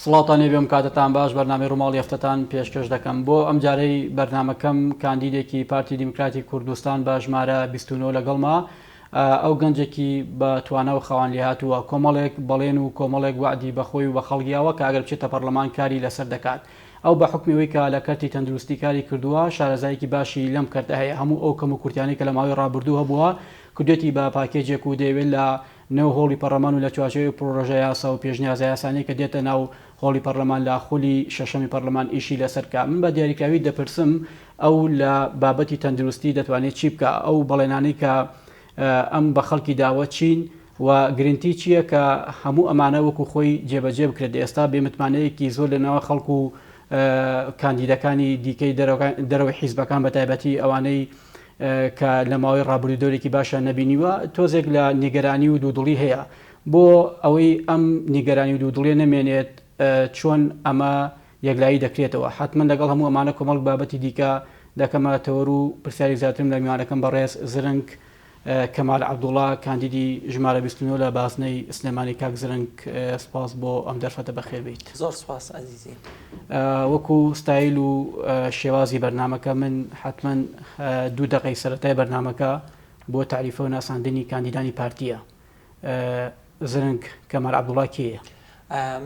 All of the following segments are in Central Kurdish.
سڵاوتان لێ بێ وم کاتتان باش بەرنامەی ڕوماڵی هەفتەتان پێشکەش دەکەم بۆ ئەم جارەی بەرنامەکەم کاندیدێکی پارتی دیموکراتی کوردستان بە ژمارە بیست و نۆ لەگەڵمە ئەو گەنجێکی بە توانا و خاوەن لێهاتووە کۆمەڵێک بەڵێن و کۆمەڵێک وەعدی بە خۆی و بە خەڵگیاوە کە ئەگەر بچێتە پەڕلەمان کاری لەسەر دەکات ئەو بە حوکمی ئەوەی کە لە کەرتی تەندروستی کاری کردووە شارەزایەکی باشی لەم کەرتە هەیە هەموو ئەو کەم و کورتیانەی کە لە ماوەی ڕابردوو هەبووە کردوێتی بە پاکێجێک و دەیەوێت لە نێو هۆڵی پەڕلەمان و لە چوارچێوەی پڕۆژەیاسا و پێشنیازەیاسانەی کە دێتە ناو هۆڵی پەڕلەمان لە خولی شەشەمی پەڕلەمان ئیشی لەسەر بکا. من بە دیاریکراوی دەپرسم ئەو لە بابەتی تەندروستی دەتوانێ چی بکا؟ ئەو بەڵێنانەی کە ئەم بە خەڵکی داوە چین و گرنتی چییە کە هەموو ئەمانە وەکو خۆی جێبەجێ بکرێت؟ ئێستا بێ متمانەیەکی زۆر لە نێوان خەڵک و کاندیدەکانی دیکەی دەرەوەی حیزبەکان بە تایبەتی ئەوانەی کە لە ماوەی ڕابردوو دەورێکی باشیان نەبینیوە، تۆزێک لە نیگەرانی و دوودڵی هەیە، بۆ ئەوەی ئەم نیگەرانی و دوودڵیە نەمێنێت چۆن ئەمە یەکلایی دەکرێتەوە؟ حەتمەن لەگەڵ هەموو ئەمانە کۆمەڵک بابەتی دیکە دەکەمە تەوەر و پرسیارێک زیاترم لە میوانەکەم بەڕێز زرنگ کەمال عەبدوڵا کاندیدی ژمارە بیست و نۆ لە بازنەی سلێمانی کاک زرنگ سپاس بۆ ئەم دەرفەتە بەخێربێیت. زۆر سپاس ئەزیزی. وەکو ستایل و شێوازی بەرنامەکە من حەتمەن دوو دەقەی سەرەتای بەرنامەکە بۆ تاریفە و ناساندنی کاندیدانی پارتیە زرنگ کەمال عبدوڵا کێیە؟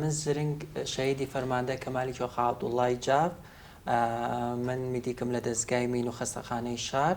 من زرنگ شەهیدی فەرماندە کەمالی کۆخا عەبدوڵڵای جاف من میدیکم لە دەزگای مین و خەستەخانەی شار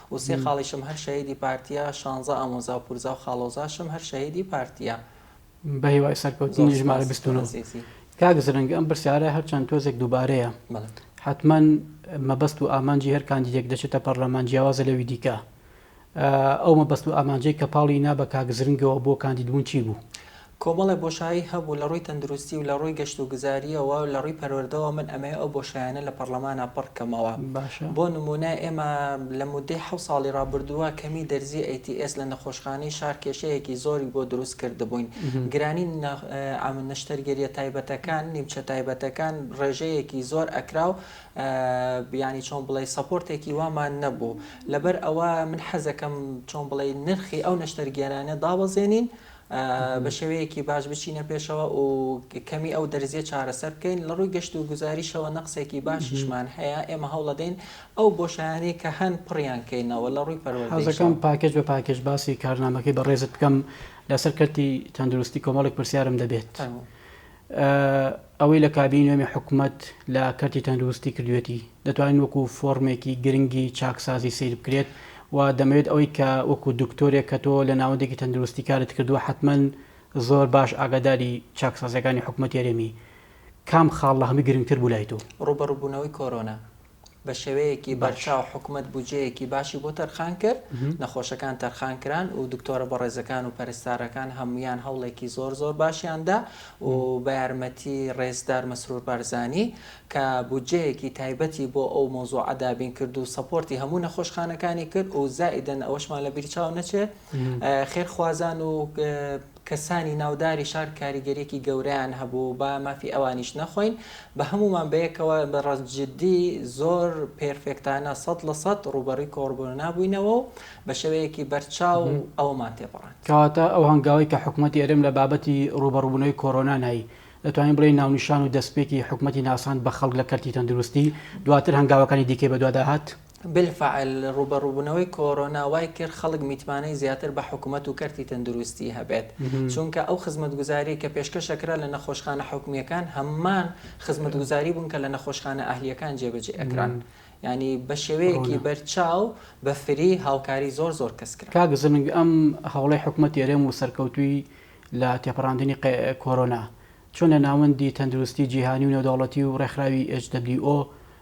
و سێ خاڵیشم هەر شەهیدی پارتیە شانزە ئامۆزا و پورزا و خاڵۆزاشم هەر شەهیدی پارتیە. بەهیوای سەرکەوتنی ژمارە بیست و نۆ. زۆر سوپاس ئەزیزی. کاک زرنگ ئەم پرسیارە هەرچەند تۆزێک دووبارەیە بەڵێ. حەتمەن مەبەست و ئامانجی هەر کاندیدێک دەچێتە پەڕلەمان جیاوازە لەوی دیکە ئەو مەبەست و ئامانجەی کە پاڵی نا بە کاک زرنگەوە بۆ کاندیدبوون چی بوو؟ کۆمەڵێ بۆشایی هەبوو لە ڕووی تەندروستی و لە ڕووی گەشت و گوزارییەوە و لە ڕووی پەروەردەوە من ئەمەوێ ئەو بۆشایانە لە پەڕڵەمانا پڕ کەمەوە باشە. بۆ نموونە ئێمە لە موددەی حەوت ساڵی ڕابردووە کەمیی دەرزیی ئەی تی ئێس لە نەخۆشخانەی شار کێشەیەکی زۆری بۆ دروست کردبووین گرانیی ئەم نەشتەرگەرییە تایبەتەکان نیمچە تایبەتەکان ڕێژەیەکی زۆر ئەکرا و یانی چۆن بڵێی سەپۆرتێکی وامان نەبوو لەبەر ئەوە من حەزەکەم چۆن بڵێی نرخی ئەو نەشتەرگێرانە دابەزێنین بە شێوەیەکی باش بچینە پێشەوە و کەمی ئەو دەرزیە چارەسەر بکەین لە ڕووی گەشت و گوزاریشەوە نەقسێکی باشیشمان هەیە ئێمە هەوڵەدەین ئەو بۆشایانی کە هەن پڕیان کەینەوە لە ڕووی پەروەردەکەم پاکێش بە پاکێش باسی کارنامەکەی بەڕێزت بکەم لەسەر کەرتی تەندروستی کۆمەڵێک پرسیارم دەبێت ئەوەی لە کابینەی نوێمی حکومەت لە کەرتی تەندروستی کردووێتی، دەتوانین وەکو فۆرمێکی گرنگی چاکسازی سەیر بکرێت و دەمەوێت ئەوەی کە وەکو دکتۆرێک کە تۆ لە ناوەندێکی تەندروستی کارت کردووە حەتمەن زۆر باش ئاگاداری چاکسازییەکانی حکومەتی هەرێمی کام خاڵ لە هەمووی گرنگتر بوو لای تۆ؟ ڕووبەڕووبوونەوەی کۆرۆنا. بە شێوەیەکی بەرچاو حکومەت بودجەیەکی باشی بۆ تەرخان کرد، نەخۆشەکان تەرخان کران و دکتۆرە بەڕێزەکان و پەرستارەکان هەموویان هەوڵێکی زۆر زۆر باشیان دا و بە یارمەتی ڕێزدار مەسرور بارزانی کە بودجەیەکی تایبەتی بۆ ئەو مەوزوعە دابین کرد و سەپۆرتی هەموو نەخۆشخانەکانی کرد و زائیدەن ئەوەشمان لە بیر چاو نەچێت خێرخوازان و کەسانی ناوداری شار کاریگەریەکی گەورەیان هەبوو با مافی ئەوانیش نەخۆین بە هەموومان بەیەکەوە بە ڕاست جدی زۆر پێرفێکتانە سەد لە سەد ڕووبەڕووی کۆڕبۆنا بووینەوە و بە شێوەیەکی بەرچاو ئەوەمان تێپەڕاند. کەواتە ئەو هەنگاوەی کە حکومەتی هەرێم لە بابەتی ڕووبەڕووبوونەوەی کۆرۆنا نای، دەتوانین بڵێین ناونیشان و دەستپێکی حکومەتی ناساند بە خەڵک لە کەرتی تەندروستی، دواتر هەنگاوەکانی دیکەی بەدوادا هات. بالفعل ڕووبەڕووبوونەوەی کۆرۆنا وای کرد خەڵک میتمانەی زیاتر بە حکومەت و کەرتی تەندروستی هەبێت چونکە ئەو خزمەتگوزاریەی کە پێشکەشەکرا لە نەخۆشخانە حکومیەکان هەمان خزمەتگوزاری بوون کە لە نەخۆشخانە ئەهلیەکان جێبەجێ ئەکران ینی بە شێوەیەکی بەرچاو بە فری هاوکاری زۆر زۆر کەس کرا. کاک زرنگ ئەم هەوڵەی حکومەتی هەرێم و سەرکەوتووی لە تێپەڕاندنی کۆرۆنا چۆن لە ناوەندی تەندروستی جیهانی و نێودەوڵەتی و ڕێکخراوی HWO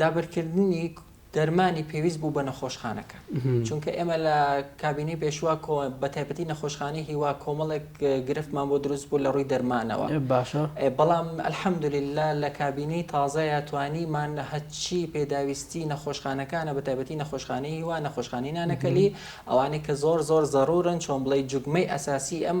دابرکردنی دەرمانی پێویست بوو بە نەخۆشخانەکە چونکە ئێمە لە کابینەی پێشوا بە تایبەتی نەخۆشخانەی هیوا کۆمەڵێک گرفتمان بۆ دروست بوو لە ڕووی دەرمانەوە باشە بەڵام ئەلحەمدوللا لە کابینەی تازەیە توانیمان هەچی پێداویستی نەخۆشخانەکانە بە تایبەتی نەخۆشخانەی هیوا نەخۆشخانی نانەکەلی ئەوانەی کە زۆر زۆر زەڕورن چۆن بڵی جوگمەی ئەساسی ئەم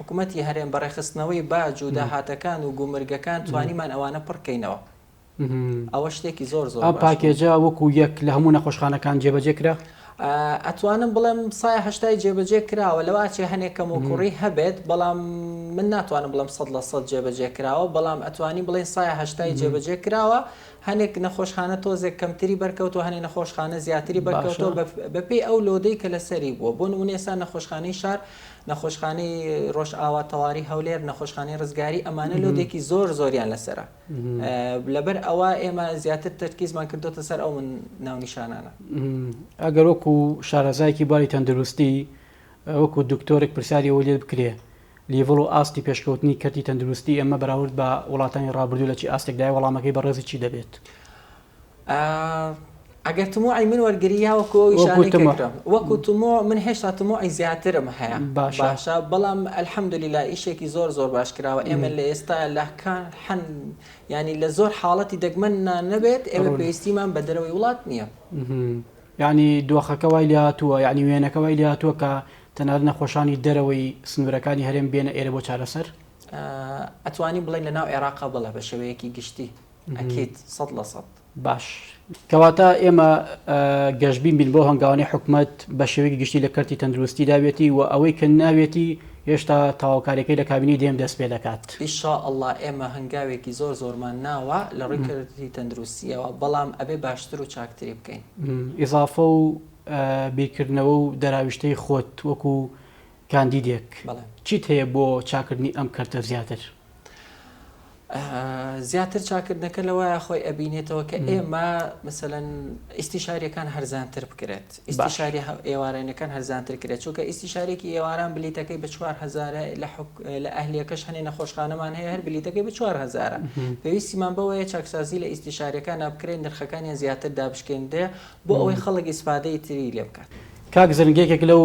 حکومەتی هەرێم بە ڕێکخستنەوەی باج و داهاتەکان و گومرگەکان توانیمان ئەوانە پڕ کەینەوە ئەوە شتێکی زۆر زۆر باش بوو. ئەم پاکێجە وەکو یەک لە هەموو نەخۆشخانەکان جێبەجێ کرا؟ ئەتوانم بڵێم سایە هەشتای جێبەجێ کراوە لەوە ئەچێ هەنێ کەموکوڕی هەبێت بەڵام من ناتوانم بڵێم سەد لە سەد جێبەجێ کراوە بەڵام ئەتوانی بڵێین سایە هەشتای جێبەجێ کراوە هەنێک نەخۆشخانە تۆزێک کەمتری بەرکەوتوە هەنێ نەخۆشخانە زیاتری بەرکەوتوە بەپێی ئەو لۆدەی کە لەسەری بووە بۆ نمونێ ئێستا نەخۆشخانەی شار نەخۆشخانەی ڕۆژئاوا تەواری هەولێر نەخۆشخانەی ڕزگاری ئەمانە لۆدێکی زۆر زۆریان لەسەرە لەبەر ئەوە ئێمە زیاتر تەرکیزمان کردوتە سەر ئەو من ناونیشانانە ئەگەر وەکو شارەزایکی باری تەندروستی وەکو دکتۆرێک پرسیاری ئەوە لێ بکرێ لیڤڵ و ئاستی پێشکەوتنی کەرتی تەندروستی ئێمە بەراورد بە وڵاتانی ڕابردوو لە چی ئاستێکدای وەڵامەکەی بەڕێزی چی دەبێت؟ ئەگەر تموعی من وەرگری یا وەکو ئەوی شانی وەکو تموع. کردم وەکو تموع من هێشتا تموعی زیاترم هەیە باشە. باشە بەڵام الحمدللە ئیشێکی زۆر زۆر باش کراوە ئێمە لە ئێستا لە کان حەن یانی لە زۆر حاڵەتی دەگمەننا نەبێت ئێمە ڕۆن. پێویستیمان بە دەرەوەی وڵات نییە. یانی دۆخەکە وای لێ هاتووە یانی وێنەکە وای لێ هاتووە کە تەنانەت نەخۆشانی دەرەوەی سنوورەکانی هەرێم بێنە ئێرە بۆ چارەسەر؟ ئەتوانین بڵێین لە ناو عێراقا بەڵێ بە شێوەیەکی گشتی. ئەکید سەد لە سەد. باش کەواتە ئێمە گەشبین بین بۆ هەنگاوانەی حکومەت بە شێوەیەکی گشتی لە کەرتی تەندروستی دابێتی و ئەوەی کە ناوێتی هێشتا تەواوکاریەکەی لە کابینەی دێم دەست پێ دەکات. ئیشاءاللە ئێمە هەنگاوێکی زۆر زۆرمان ناوە لە ڕووی کەرتی تەندروستیەوە بەڵام ئەبێ باشتر و چاکتری بکەین. ئیزافە و بیرکردنەوە و دەراویشتەی خۆت وەکو کاندیدێک چیت هەیە بۆ چاکردنی ئەم کەرتە زیاتر؟ زیاتر چاکردنەکە لەوەیە خۆی ئەبینێتەوە کە ئێمە مثلەن ئیسیشارەکان هەرزانتر بکرێت ئیسیشاری ئێوارێنەکان هەرزانتر کرێت چونکە ئیسیشارێکی ئێواران بلیتەکەی بە 4هزار لە ئەهلیەکەش هەنێ نەخۆشخانەمان هەیە هەر بلیتەکەی بە 4هزار پێویستیمان بەوەیە چاکسازی لە ئیسیشارەکان نابکرێن نرخەکانیان زیاتر دابشکێنرێ بۆ ئەوەی خەڵک ئیسفادەی تری لێ بکات. کاک زرنگ یەکێک لەو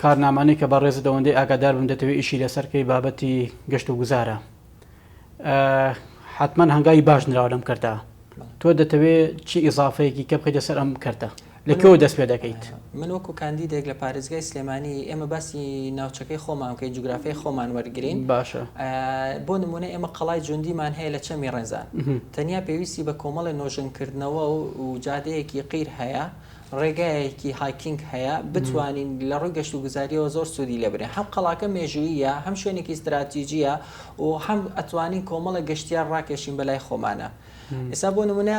کارنامانەی کە بەڕێزت ئەوەندەی ئاگادار بم دەتەوێ ئیشی لەسەر کەی بابەتی گەشت و گوزارە حتمما هەنگاوی باش نراوە لەم کەرتا تۆ دەتەوێ چی ئیزافەیەکی کە بخیتە سەر ئەم کەرتە لە کەەوە دەست پێ دەکەیت من وەکو کاندیدێک لە پارێزگای سلێمانی ئێمە باسی ناوچەکەی خۆمان کە جوگرافی خۆمان وەرگین باشە بۆ نمونە ئێمە قەڵای جوندیمان هەیە لە چەمی ڕێنزان تەنیا پێویستی بە کۆمەڵی نۆژنکردنەوە و جادەیەکی قیر هەیە ڕێگایەکی هایکینگ هەیە بتوانین لە ڕووی گەشتوگوزارییەوە زۆر سوودی لێ ببینین. هەم قەڵاکە مێژووییە، هەم شوێنێکی ستراتیجییە و هەم ئەتوانین کۆمەڵێک گەشتیار ڕاکێشین بە لای خۆمانە. ئێستا بۆ نموونە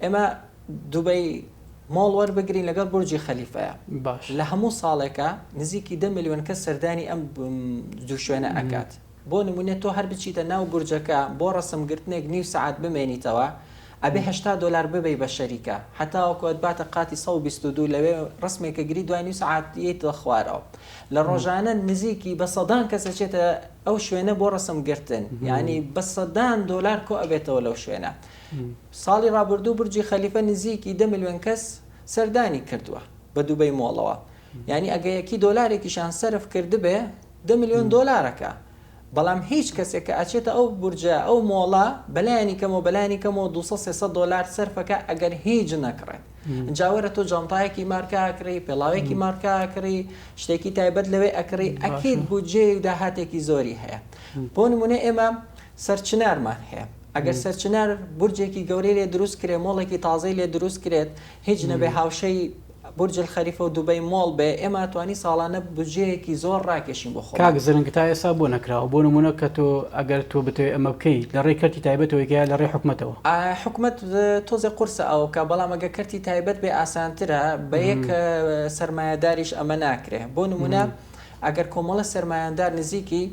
ئێمە دوبەی مۆڵ وەربگرین لەگەڵ بورجی خەلیفەیە. باش. لە هەموو ساڵێکە نزیکی دە ملیۆن کەس سەردانی ئەم دوو شوێنە ئەکات. بۆ نموونە تۆ هەر بچیتە ناو بورجەکە بۆ ڕەسمگرتنێک نیو سەعات بمێنیتەوە، ئەبێ هەشتا دۆلار ببەی بە شەریکە هەتاوەکو ئەتباتە قاتی سەد و بیست و دوو لەوێ رسمێک ئەگری دوای نیو سەعات یەیتە خوارەوە لە رۆژانە نزیکی بە سەدان کەس ئەچێتە ئەو شوێنە بۆ رسم گرتن یانی بە سەدان دۆلار کۆ ئەبێتەوە لەو شوێنە ساڵی رابردوو برجی خەلیفە نزیکی دە ملیۆن کەس سەردانی کردوە بە دوبەی مۆڵەوە یانی ئەگە یەکی دۆلارێکیشان سەرف کردبێ دە ملیۆن دۆلارەکە بەڵام هیچ کەسێک کە ئەچێتە ئەو بورجە ئەو مۆڵە بەلایەنی کەمەوە بەلایەنی کەمەوە دوو سەد سێ سەد دۆلار سەرف ئەکا ئەگەر هیچ نەکڕێت ئینجا وەرە تۆ جانتایەکی مارکە ئەکڕی پێڵاوێکی مارکە ئەکڕی شتێکی تایبەت لەوێ ئەکڕی ئەکید بودجەیەک داهاتێکی زۆری هەیە بۆ نمونە ئێمە سەرچنارمان هەیە ئەگەر سەرچنار بورجێکی گەورەی لێ دروست کرێ مۆڵێکی تازەی لێ دروست کرێت هیچ نەبێ هاوشێی بورج الخلیفە و دوبەی مۆڵ بێ ئێمە ئەتوانی ساڵانە بودجەیەکی زۆر ڕاکێشین بۆ خۆمان. کاک زرنگ تا ئێستا بۆ نەکراوە؟ بۆ نمونە کە تۆ ئەگەر تۆ بتەوێ ئەمە بکەی لە ڕێی کەرتی تایبەتەوەی کە یا لە ڕێی حکومەتەوە؟ حکومەت تۆزێ قورسە ئەوکا بەڵام ئەگەر کەرتی تایبەت بێ ئاسانترە بە یەک سەرمایەداریش ئەمە ناکرێ بۆ نمونە ئەگەر کۆمەڵە سەرمایەندار نزیکی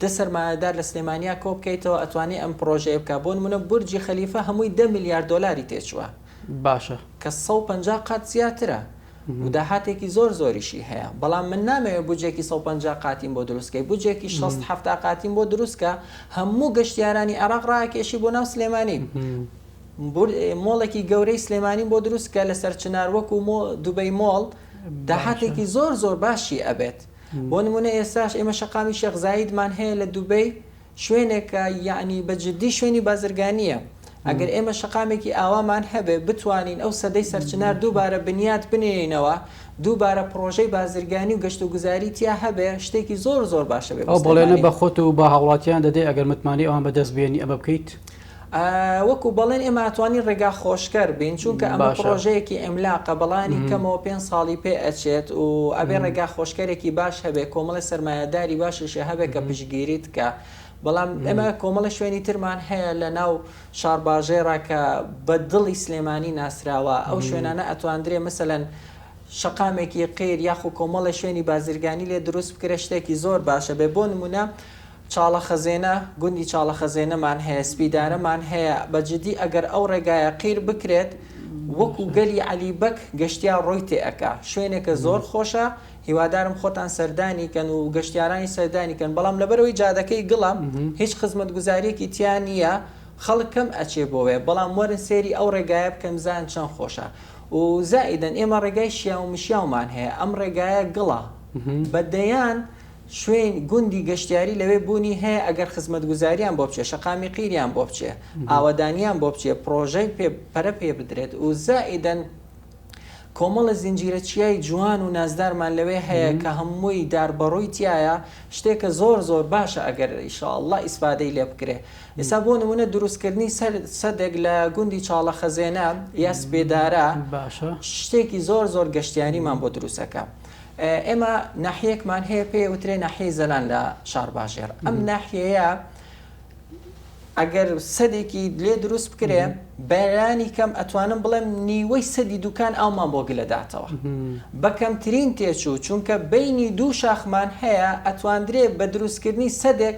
دە سەرمایەدار لە سلێمانیا کۆ بکەیتەوە ئەتوانی ئەم پڕۆژەیە بکا بۆ نمونە بورجی خەلیفە هەمووی دە ملیار دۆلاری تێچوە باشە. کە سەد و پەنجا قات زیاترە و داهاتێکی زۆر زۆریشی هەیە، بەڵام من نامەوێت بودجەیەکی سەد و پەنجا قاتیم بۆ دروست کەی، بودجەیەکی شەست حەفتا قاتیم بۆ دروست کە، هەموو گەشتیارانی عێراق ڕاکێشی بۆ ناو سلێمانی، مۆڵێکی گەورەی سلێمانیم بۆ دروست کە لەسەر چنار وەکو دوبەی مۆڵ، داهاتێکی زۆر زۆر باشی ئەبێت، بۆ نموونە ئێستاش ئێمە شەقامی شێخ زایدمان هەیە لە دوبەی، شوێنێکە یەعنی بە جدی شوێنی بازرگانییە ئەگەر ئێمە شەقامێکی ئاوامان هەبێ بتوانین ئەو سەدەی سەرچنار دووبارە بنیات بنێینەوە دووبارە پڕۆژەی بازرگانی و گەشت و گوزاری تیا هەبێ شتێکی زۆر زۆر باشە بێ بۆ سلێمانی. ئەو بەڵێنە بە خۆت و بە هاوڵاتیان دەدەی ئەگەر متمانەی ئەوان بە دەست بێنی ئەمە بکەیت؟ وەکو بەڵێن ئێمە ئەتوانین ڕێگا خۆشکەر بین چونکە ئەمە پڕۆژەیەکی ئیملاقە بەڵانی کەمەوە پێنج ساڵی پێ ئەچێت و ئەبێ ڕێگا خۆشکەرێکی باش هەبێ کۆمەڵی سەرمایەداری باشیشە هەبێ کە پشگیریت کە بەڵام ئێمە کۆمەڵی شوێنی ترمان هەیە لە ناو شارباژێڕا کە بە دڵی سلێمانی ناسراوە ئەو شوێنانە ئەتواندرێ مثلەن شەقامێکی قیر یاخو کۆمەڵی شوێنی بازرگانی لێ دروست بکرێ شتێکی زۆر باشە بێ بۆ نمونە چاڵە خەزێنە گوندی چاڵە خەزێنە مان هەیە سپیدارە مان هەیە بە جدی ئەگەر ئەو ڕێگایە قیر بکرێت وەکو گەلی عەلی بەگ گەشتیار ڕۆی تێ ئەکا شوێنێکە زۆر خۆشە هیوادارم خۆتان سەردانی کەن و گەشتیارانی سەردانی کەن بەڵام لەبەرەوەی جادەکەی گڵە هیچ خزمەت گوزاریەکی تیا نیە خەڵک کەم ئەچێ بۆێ بەڵام وەرن سێری ئەو ڕێگایە بکەن بزان چەند خۆشە و زائیدەن ئێمە ڕێگای شیاو مشیاومان هەیە ئەم ڕێگایە گڵە بە دەیان شوین گوندی گەشتیاری لەوێ بونی هەیە ئەگەر خزمەتگوزاریان بۆ بچێ شەقامی قیریان بۆ بچێ ئاوەدانیان بۆ بچێ پرۆژەی پێ پەرە پێ بدرێت و زائیدەن کۆمەڵە زنجیرە چیای جوان و نازدارمان لەوێ هەیە کە هەمووی دار بەڕووی تیایە شتێکە زۆر زۆر باشە ئەگەر ان شاء اللە ئیسفادەی لێ بکرێ ئێستا بۆ نمونە دروست کردنی سەر سەدێک لە گوندی چاڵە خەزێنە یا سپێدارە شتێکی زۆر زۆر گەشتیاریمان بۆ دروست ئەکا. ئێمە ناحیەیەکمان هەیە پێی ئەوترێ ناحیەی زەلان لە شارباژێڕ ئەم ناحیەیە ئەگەر سەدێکی لێ دروست بکرێ بەرانی کەم ئەتوانم بڵێم نیوەی سەدی دوکان ئەومان بۆ گلە داتەوە بەکەمترین تێچوو چونکە بینی دوو شاخمان هەیە ئەتواندرێ بە دروستکردنی سەدێک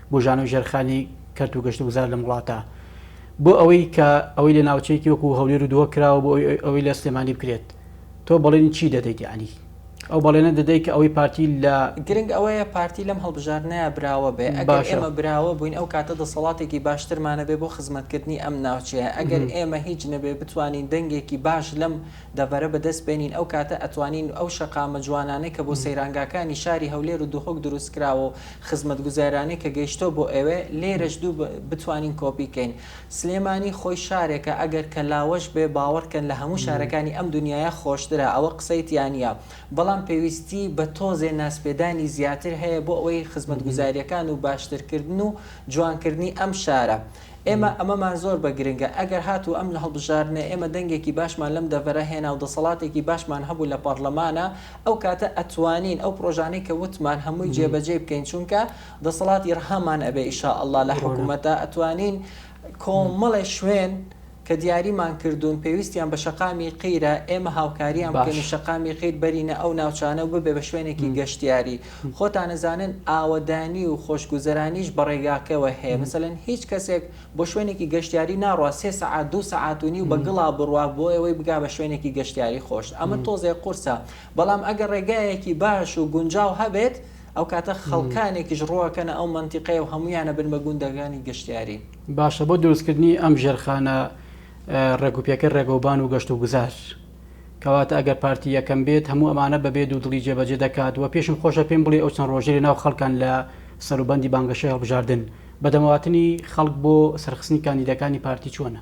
بوژانەو ژێرخانی کەرت و گەشتوگوزار لەم وڵاتە بۆ ئەوەی کە ئەوەی لە ناوچەیەکی وەکو هەولێر و دهۆک کراوە بۆ ئەوەی ئەوەی لە سلێمانی بکرێت تۆ بەڵێنی چی دەدەیت یەعنی ئەو بەڵێنە دەدەیت کە ئەوەی پارتی لە گرنگ ئەوەیە پارتی لەم هەڵبژاردنەیا براوە بێ ئەگەر باشە ئێمە براوە بووین ئەو کاتە دەسەڵاتێکی باشترمان هەبێ بۆ خزمەتکردنی ئەم ناوچەیە ئەگەر مهم. ئێمە هیچ نەبێ بتوانین دەنگێکی باش لەم دەڤەرە بەدەست بێنین ئەو کاتە ئەتوانین ئەو شەقامە جوانانەی کە بۆ مهم. سەیرانگاکانی شاری هەولێر و دهۆک دروست کراوە و خزمەتگوزارانەی کە گەیشتوە بۆ ئێوێ لێرەش دوو بتوانین کۆپی کەین سلێمانی خۆی شارێکە ئەگەر کە لاوەش بێ باوەڕ کەن لە هەموو شارەکانی ئەم دونیایە خۆشترە ئەوە قسەی تیانیە بەڵام پێویستی بە تۆزێ ناسپێدانی زیاتر هەیە بۆ ئەوەی خزمەتگوزاریەکان و باشتر کردن و جوان کردنی ئەم شارە ئێمە ئەمەمان زۆر بە گرنگە، ئەگەر هاتوو ئەم هەڵبژاردنەی ئێمە دەنگێکی باشمان لەم دەڤەرە هێنا و دەسەڵاتێکی باشمان هەبوو لە پارلەمانا ئەو کاتە ئەتوانین ئەو پرۆژانەی کە وتمان هەمووی جێ بە جێی بکەین چونکە دەسەڵاتی رەهامان ئەبێ ئیشاءاللە لە حکومەتا ئەتوانین کۆمەڵێ شوێن کە دیاریمان کردوون پێویستیان بە شەقامی قیرە، ئێمە هاوکاریان بکەین و شەقامی قیر بەرینە ئەو ناوچانە و ببێ بە شوێنێکی گەشتیاری. خۆتان ئەزانن ئاوەدانی و خۆشگوزەرانیش بە ڕێگاکەوە هەیە. مەسەلەن هیچ کەسێک بۆ شوێنێکی گەشتیاری ناڕوا سێ سەعات، دوو سەعات و نیو بە گڵا بڕوا بۆ ئەوەی بگا بە شوێنێکی گەشتیاری خۆش. ئەمە تۆزێ قورسە. بەڵام ئەگەر ڕێگایەکی باش و گونجاو هەبێت، ئەو کاتە خەڵکانێکیش ڕوو ئەکەنە ئەو مەنتیقەیە و هەموویان ئەبن بە گوندەکانی گەشتیاری. باشە بۆ دروستکردنی ئەم ژێرخانە ڕێکوپێکە ڕێگەوبان و گەشت و گوزار کەواتە ئەگەر پارتی یەکەم بێت هەموو ئەمانە بەبێ دوو دڵی جێبەجێ دەکات و پێشم خۆشە پێم بڵێ ئەو چەند ڕۆژەی لەناو خەڵکان لە سەروبەندی بانگەشەی هەڵبژاردن بە دەمەواتنی خەڵک بۆ سەرخستنی کاندیدەکانی پارتی چۆنە؟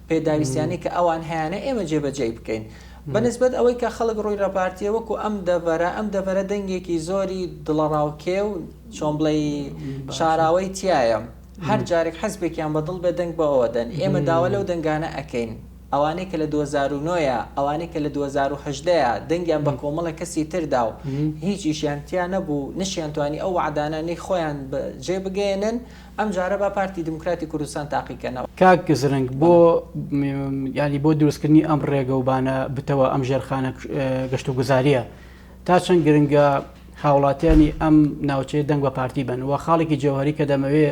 پێداویستیانەی کە ئەوان هەیانە ئێمە جێبەجێی بکەین بە نسبەت ئەوەی کە خەڵک ڕووی لە پارتیە وەکو ئەم دەڤەرە ئەم دەڤەرە دەنگێکی زۆری دڵەڕاوکێ و چۆن بڵێی شاراوەی تیایە هەر جارێک حزبێکیان بە دڵ بێ دەنگ بە ئەوە دەن ئێمە داوا لەو دەنگانە ئەکەین ئەوانەی کە لە دوو هەزار و نۆ ە ئەوانەی کە لە دوو هەزار و هەژدە ە دەنگیان بە کۆمەڵێک کەسی تر دا و هیچ ئیشیان تیا نەبوو نەشیان توانی ئەو وەعدانە نەی خۆیان جێ بگەیەنن ئەم جارە با پارتی دیموکراتی کوردستان تاقی کەنەوە. کاک زرنگ بۆ یانی بۆ دروستکردنی ئەم ڕێگە و بانە بتەوە ئەم ژێرخانە گەشت و گوزاریە تا چەند گرنگە هاوڵاتیانی ئەم ناوچەیە دەنگ بە پارتی بن و خاڵێکی جەوهری کە دەمەوێ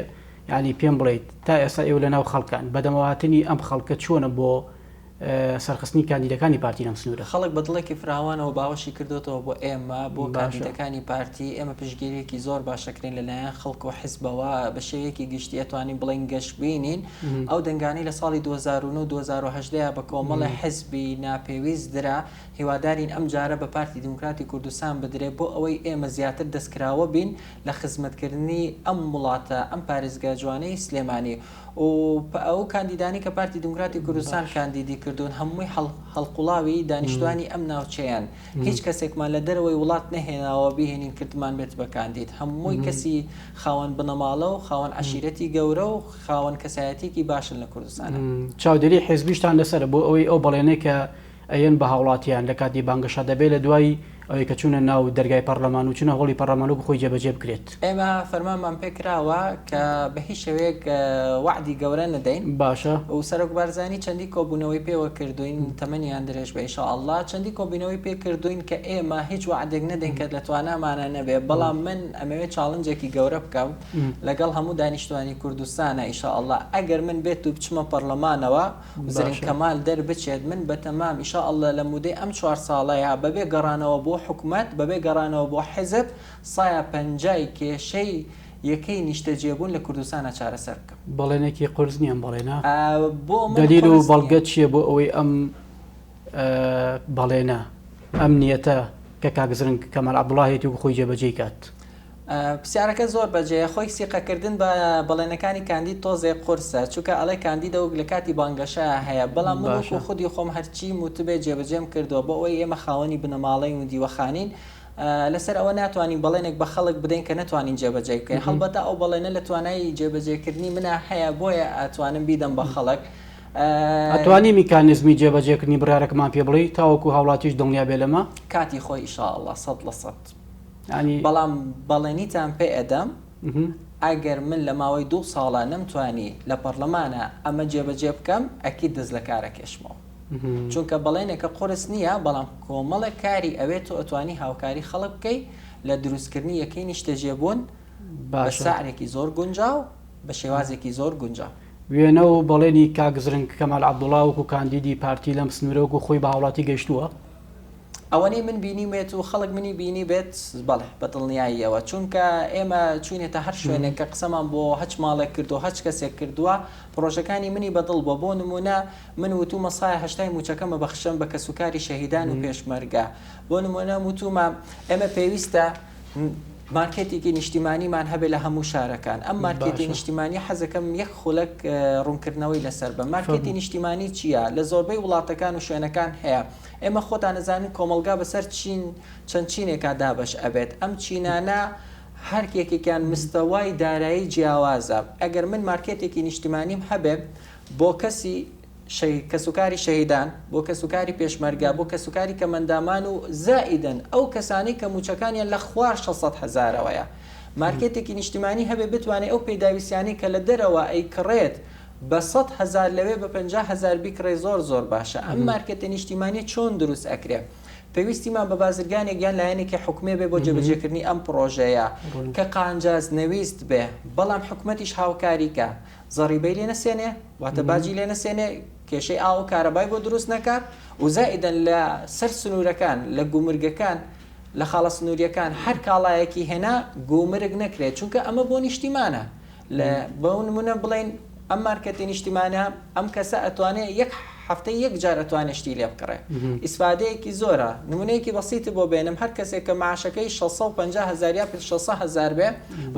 ینی پێم بڵیت تا ئێستا ئێو لە ناو خەڵکان بەدەمەواتنی ئەم خەڵکە چۆنە بۆ سەرخستنی کاندیدەکانی پارتی لەم سنوورە. خەڵک بە دڵێکی فراوانەوە باوەشی کردۆتەوە بۆ ئێمە، بۆ کاندیدەکانی پارتی، ئێمە پشتگیرییەکی زۆر باش ئەکرێین لە لایەن خەڵک و حزبەوە، بە شێوەیەکی گشتی ئەتوانین بڵێین گەشبینین، ئەو دەنگانەی لە ساڵی دوو هەزار و نۆ و دوو هەزار و هەژدە یا بە کۆمەڵی حزبی ناپێویست درا، هیوادارین ئەم جارە بە پارتی دیموکراتی کوردستان بدرێت، بۆ ئەوەی ئێمە زیاتر دەستکراوە بین لە خزمەتکردنی ئەم وڵاتە، ئەم پارێزگا جوانەی سلێمانی. و ئەو کاندیدانەی کە پارتی دیموکراتی کوردستان کاندیدی کردوون هەمووی هەڵقوڵاوی دانیشتوانی ئەم ناوچەیەن هیچ کەسێکمان لە دەرەوەی وڵات نەهێناوە بیهێنین کردمان بێت بە کاندید هەمووی کەسی خاوەن بنەماڵە و خاوەن عەشیرەتی گەورە و خاوەن کەسایەتیەکی باشن لە کوردستان چاودێری حزبیشتان لەسەر بۆ ئەوەی ئەو بەڵێنەی کە ئەیەن بە هاوڵاتیان لە کاتی بانگەشە دەبێت لە دوای ئەوەی کە چوونە ناو دەرگای پەڕلەمان و چوونە هۆڵی پەڕلەمان وەکو خۆی جێبەجێ بکرێت. ئێمە فەرمانمان پێ کراوە کە بە هیچ شێوەیەک وەعدی گەورە نەدەین باشە. و سەرۆک بارزانی چەندی کۆبوونەوەی پێوە کردووین تەمەنیان درێژ بێ ئیشاء اللە چەندی کۆبوونەوەی پێ کردووین کە ئێمە هیچ وەعدێک نەدەین کە لە توانامانا نەبێ بەڵام من ئەمەوێ چاڵنجێکی گەورە بکەم لەگەڵ هەموو دانیشتوانی کوردستانا ئیشاء اللە ئەگەر من بێت و بچمە پەڕلەمانەوە زرینگ کەمال دەربچێت من بەتەمام ان شاء اللە لە مودەی ئەم چوار ساڵەیا بەبێ گەڕانەوە بۆ حکومەت بەبێ گەڕانەوە بۆ حیزب سایا پەنجای کێشەی یەکەی نیشتەجێبوون لە کوردستانا چارەسەر بکەم. بەڵێنێکی قورس نییە ئەم بەڵێنە؟ بۆ من قورس نییە. دەلیل و بەڵگەت چییە بۆ ئەوەی ئەم بەڵێنە، ئەم نیەتە کە کاک زرنگ کەمال عەبدوڵا هەیەتی وەکو خۆی جێبەجێی کات؟ پسیارەکە زۆر بەجێیە خۆی سیقە کردن بە بەڵێنەکانی کاندید تۆزێک قورسە چونکە ئەڵێ کاندیدە وک لەکاتی بانگەشەیا هەیە بەڵام من وەکو خودی خۆم هەرچیم وتبێ جێبەجێم کردوە بۆ ئەوەی ئێمە خاوەنی بنەماڵەین و دیوەخانین لەسەر ئەوە ناتوانین بەڵێنێک بە خەڵک بدەین کە نەتوانین جێبەجێی بکەین هەڵبەتە ئەو بەڵێنە لە توانای جێبەجێ کردنی منا هەیە بۆیە ئەتوانم بیدەم بە خەڵک ئەتوانی میکانزمی جێبەجێکردنی بڕارەکەمان پێ بڵێی تاوەکو هاوڵاتیش دڵنیا بێ لەمە کاتی خۆی ئیشاڵڵە سەد لە سەد. بەڵام بەڵێنیتان پێ ئەدەم ئەگەر من لە ماوەی دوو ساڵە نەمتوانی لە پەڕلەمانا ئەمە جێبەجێ بکەم ئەکید دەست لە کار ئەکێشمەوە چونکە بەڵێنێکە قورس نییە بەڵام کۆمەڵێک کاری ئەوێ تۆ ئەتوانی هاوکاری خەڵک بکەی لە دروستکردنی یەکەی نیشتەجێبوون بە سعرێکی زۆر گونجاو بە شێوازێکی زۆر گونجاو. وێنە و بەڵێنی کاک زرنگ کەمال عەبدوڵا وەکو کاندیدی پارتی لەم سنوورە وەکو خۆی بە هاوڵاتی گەیشتووە، ئەوەنەی من بینیومێت و خەڵک منی بینیبێت، بەڵێ، بە دڵنیاییەوە، چونکە ئێمە چووینەتە هەر شوێنێک کە قسەمان بۆ هەچ ماڵێک کردووە، هەچ کەسێک کردووە، پڕۆژەکانی منی بە دڵ بووە، بۆ نموونە من وتوومە سایە هەشتای مووچەکەم ئەبەخشم بە کەسوکاری شەهیدان و پێشمەرگە، بۆ نموونە وتوومە ئێمە پێویستە مارکێتێکی نیشتیمانیمان هەبێت لە هەموو شارەکان، ئەم مارکێتی نیشتیمانییە حەزەکەم یەک خولەک ڕوونکردنەوەی لەسەر بم، مارکێتی نیشتیمانی چییە؟ لە زۆربەی وڵاتەکان و شوێنەکان هەیە، ئێمە خۆتان ئەزانن کۆمەڵگا بەسەر چین چەند چینێکا دابەش ئەبێت ئەم چینانە هەر یەکێکیان مستەوای دارایی جیاوازە ئەگەر من مارکێتێکی نیشتیمانیم هەبێ بۆ کەسی شەهید کەسوکاری شەهیدان بۆ کەسوکاری پێشمەرگە بۆ کەسوکاری کەمەندامان و زائیدەن ئەو کەسانەی کە موچەکانیان لە خوار شەش سەد هەزارەوەیە مارکێتێکی نیشتیمانی هەبێ بتوانێ ئەو پێداویستیانەی کە لە دەرەوە ئەیکڕێت بە سەد هەزار لەوێ بە پەنجا هەزار بیکڕێ زۆر زۆر باشە ئەم مارکێتە نیشتیمانیە چۆن دروست ئەکرێ پێویستیمان بە بازرگانێک یان لایەنێکی حکومی بێ بۆ جێبەجێکردنی ئەم پڕۆژەیە کە قانجاز نەویست بێ بەڵام حکومەتیش هاوکاری کا زەڕیبەی لێ نەسێنێ واتە باجی لێ نەسێنێ کێشەی ئاو و کارەبای بۆ دروست نەکا و زائیدەن لە سەر سنورەکان لە گومرگەکان لە خاڵە سنوریەکان هەر کاڵایەکی هێنا گومرگ نەکرێ چونکە ئەمە بۆ نیشتیمانە لە بۆ نمونە بڵێین ئەم مارکێتی نیشتیمانە ئەم کەسە ئەتوانێ یەک هەفتەی یەک جار ئەتوانێ شتی لێ بکڕێ ئیسفادەیەکی زۆرە نمونەیەکی بەسیتت بۆ بێنم هەر کەسێک کە معاشەکەی 650 هەزار یا 600 هەزار بێ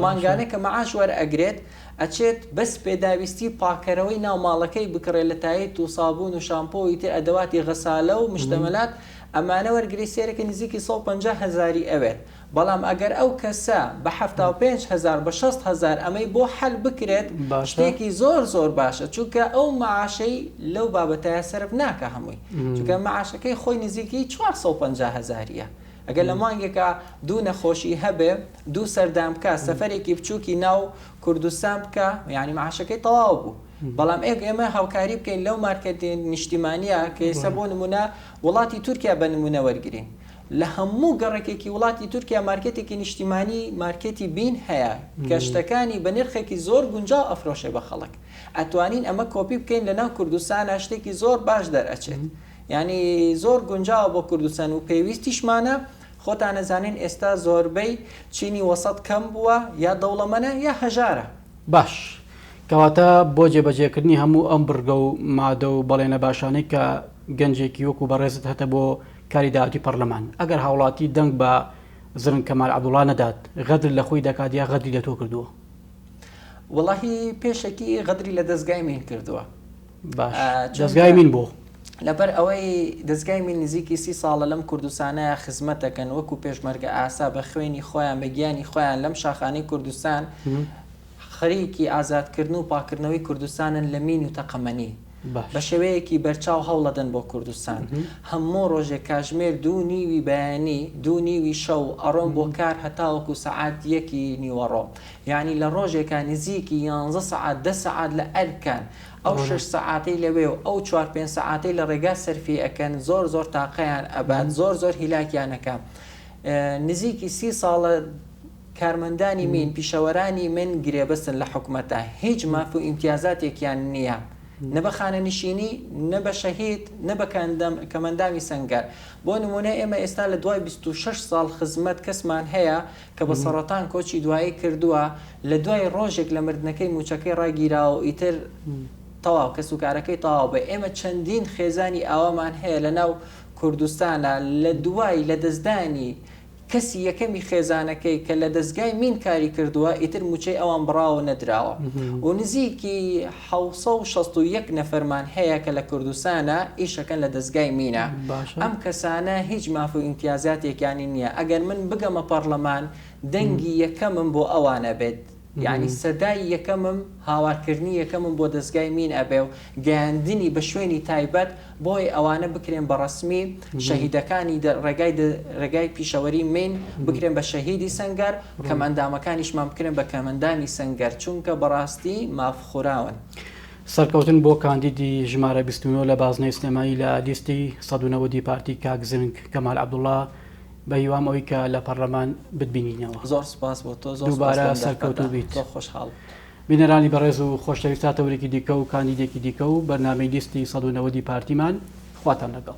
مانگانە کە معاش وەرئەگرێت ئەچێت بەس پێداویستی پاکەرەوەی ناو ماڵەکەی بکڕێت لە تایت و سابون و شامپۆی تر ئەدەواتی غەسالە و مشتەمەلات ئەمانە وەرگری سێرەکە نزیکی 150 هەزاری ئەوێت بەڵام ئەگەر ئەو کەسە بە حەفتا و پێنج هەزار بە شەست هەزار ئەمەی بۆ حەل بکرێت شتێکی زۆر زۆر باشە چونکە ئەو معاشەی لەو بابەتایە سەرف ناکە هەمووی چونکە معاشەکەی خۆی نزیکی چوار سەد و پەنجا هەزاریە ئەگەر لە مانگێکا دوو نەخۆشی هەبێ دوو سەردان بکا سەفەرێکی بچووکی ناو کوردستان بکا یعنی معاشەکەی تەواو بوو بەڵام ئێک ئێمە هاوکاری بکەین لەو مارکێت نیشتیمانیە کە ئێستا بۆ نمونە وڵاتی تورکیا بە نمونە وەرگرین لە هەموو گەڕەکێکی وڵاتی تورکیا مارکێتێکی نیشتیمانی مارکێتی بین هەیە کە شتەکانی بە نرخێکی زۆر گونجاو ئەفرۆشێ بە خەڵک ئەتوانین ئەمە کۆپی بکەین لە ناو کوردستانا شتێکی زۆر باش دەرئەچێت یانی زۆر گونجاوە بۆ کوردستان و پێویستیشمانە خۆتان ئەزانین ئێستا زۆربەی چینی وەسەت کەم بووە یا دەوڵەمەنە یا هەژارە. باش کەواتە بۆ جێبەجێکردنی هەموو ئەم بڕگە و مادە و بەڵێنە باشانەی کە گەنجێکی وەکو بەڕێزت هەتە بۆ کاری داوەتی پەڕلەمان ئەگەر هاوڵاتی دەنگ بە زرنگ کەمال عەبدوڵا نەدات غەدر لە خۆی دەکات یا غەدری لە تۆ کردووە؟ وەڵاهی پێشەکی غەدری لە دەزگای مین کردووە. باش دەزگای مین بۆ؟ لەبەر ئەوەی دەزگای مین نزیکی سی ساڵە لەم کوردستانەیا خزمەت دەکەن وەکو پێشمەرگە ئاسا بە خوێنی خۆیان بە گیانی خۆیان لەم شاخانەی کوردستان خەریکی ئازادکردن و پاککردنەوەی کوردستانن لە مین و تەقەمەنی. بە شێوەیەکی بەرچاو هەوڵەدەن بۆ کوردستان. هەموو ڕۆژێ کاژمێر دوو نیوی بەیانی، دوو نیوی شەو ئەڕۆم بۆ کار هەتاوەکو سەعات یەکی نیوەڕۆ. یانی لە ڕۆژێکا نزیکی یانزە سەعات دە سەعات لە ئەرکان. ئەو شەش سەعاتەی لەوێ و ئەو چوار پێنج سەعاتەی لە ڕێگا سەرفی ئەکەن زۆر زۆر تاقەیان ئەبات، زۆر زۆر هیلاکیان ئەکا. نزیکی سی ساڵە کارمەندانی مین، پیشەوەرانی مین گرێبەستن لە حکومەتە، هیچ ماف و ئیمتیازاتێکیان نییە، نە بە خانەنشینی، نە بە شەهید، نە بە کەمەندامی سەنگەر. بۆ نموونە ئێمە ئێستا لە دوای بیست و شەش ساڵ خزمەت کەسمان هەیە کە بە سەڕەتان کۆچی دوایی کردووە، لە دوای ڕۆژێک لە مردنەکەی مووچەکەی ڕاگیراوە و ئیتر تەواو، کەسوکارەکەی تەواو بووە. ئێمە چەندین خێزانی ئاوامان هەیە لەناو کوردستانا لە دوای لەدەستدانی کەسی یەکەمی خێزانەکەی کە لە دەزگای مین کاری کردووە ئیتر مووچەی ئەوان بڕاوە نەدراوە و نزیکی حەوت سەد و شەست و یەک نەفەرمان هەیە کە لە کوردستانە ئیشەکەن لە دەزگای مینە ئەم کەسانە هیچ ماف و ئیمتیازاتێکیانی نییە ئەگەر من بگەمە پەڕلەمان دەنگی یەکەمم بۆ ئەوانە بێت یانی سەدای یەکەمم هاوارکردنی یەکەمم بۆ دەزگای مین ئەبێ و گەیاندنی بە شوێنی تایبەت بۆی ئەوانە بکرێن بە ڕەسمی شەهیدەکانی ڕێگای ڕێگای پیشەوەری مین بکرێن بە شەهیدی سەنگەر کەمئەندامەکانیشمان بکرێن بە کەمەندانی سەنگەر چونکە بەڕاستی ماف خوراون. سەرکەوتن بۆ کاندیدی ژمارە بیست و نۆ لە بازنەی سلێمانی لە لیستی سەد و نەوەد ی پارتی کاک زرنگ کەمال عەبدوڵا. بە هیوام ئەوی کە لە پەڕلەمان بتبینینەوە. زۆر سوپاس بۆ تۆ، زۆر سوپاس بۆ ئەم دەرفەتە، زۆر خۆشحاڵ بووم. بینەرانی بەڕێز و خۆشەویست تا تەوەرێکی دیکە و کاندیدێکی دیکە و بەرنامەی لیستی سەد و نەوەدی پارتیمان خواتان لەگەڵ.